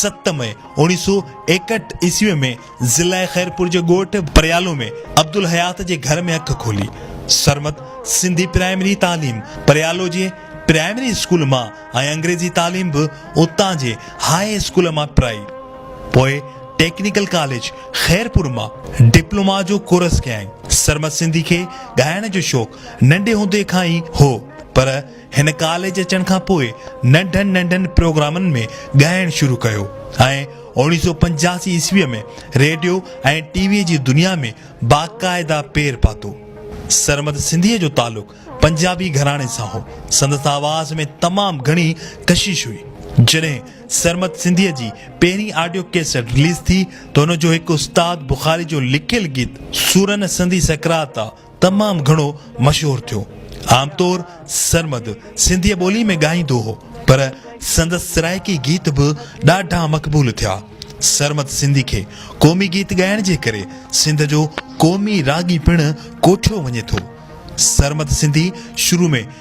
ست مئي اوڻيهه سؤ ايڪهٺ عيسوي ۾ ضلع خيرپور جي ڳوٺ پريالو ۾ عبدالحيات جي گهر ۾ اک کولي. سرمد سنڌي پرائمري تعليم پريالو جي پرائمري اسڪول مان ۽ انگريزي تعليم به اتان جي هاء اسڪول مان پرائي. پوء ٽيڪنيڪل ڪاليج خيرپور مان ڊپلوما جو ڪورس ڪيائين. سرمد سنڌي کي ڳائڻ جو شوق ننڍي هوندي کان ئي هو پر هن ڪاليج اچڻ کان پوء ننڍن ننڍن پروگرامن ۾ ڳائڻ شروع ڪيو ۽ اوڻيهه سؤ پنجاسي عيسويء ۾ ريڊيو ۽ ٽي ويء جي دنيا ۾ باقاعده پير پاتو. سرمد سنڌيء جو تعلق پنجابي گهراڻي سان هو. سندس آواز ۾ تمام گهڻي ڪشش هئي. جڏهن سرمد سنڌيء جي پهرين آڊيو ڪيسٽ رليز ٿي ته ان جو هڪ استاد بخاري جو لکيل گيت سورن سندي سڪرات آ، تمام گهڻو مشهور ٿيو. عام طور سرمد سنڌيء ٻوليء ۾ ڳائيندو هو، پر سندس سرائيڪي گيت به ڏاڍا مقبول ٿيا. سرمد سنڌي کي قومي گيت ڳائڻ جي ڪري سنڌ جو قومي راڳي پڻ ڪوٺيو وڃي ٿو. سرمد سنڌي شروع ۾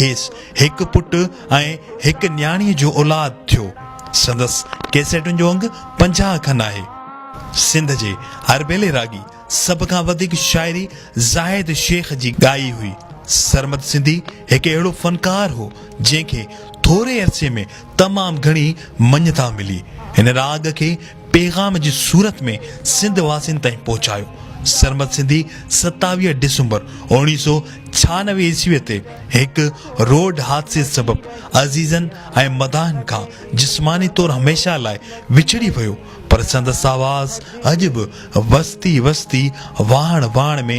کيس هڪ پٽ ۽ هڪ نياڻيء جو اولاد ٿيو. سندس ڪيسيٽن جو انگ پنجاهه کن آهي. سنڌ جي اربيلي راڳي سڀ کان وڌيڪ شاعري زاهد شيخ جي ڳائي هئي. سرمد سنڌي هڪ اهڙو فنڪار هو، جنهن کي ٿوري عرصي ۾ تمام گهڻي مڃتا ملي. هن راڳ کي پيغام جي صورت ۾ سنڌ واسين تائين پهچايو. سرمد سنڌي ستاويهه ڊسمبر اوڻيهه سؤ ڇهانوي عيسويء تي هڪ روڊ حادثي سبب عزيزن ۽ مداحن کان جسماني طور هميشه لاء وڇڙي ويو پر سندس آواز اڄ به وستي وستي واهڻ واهڻ ۾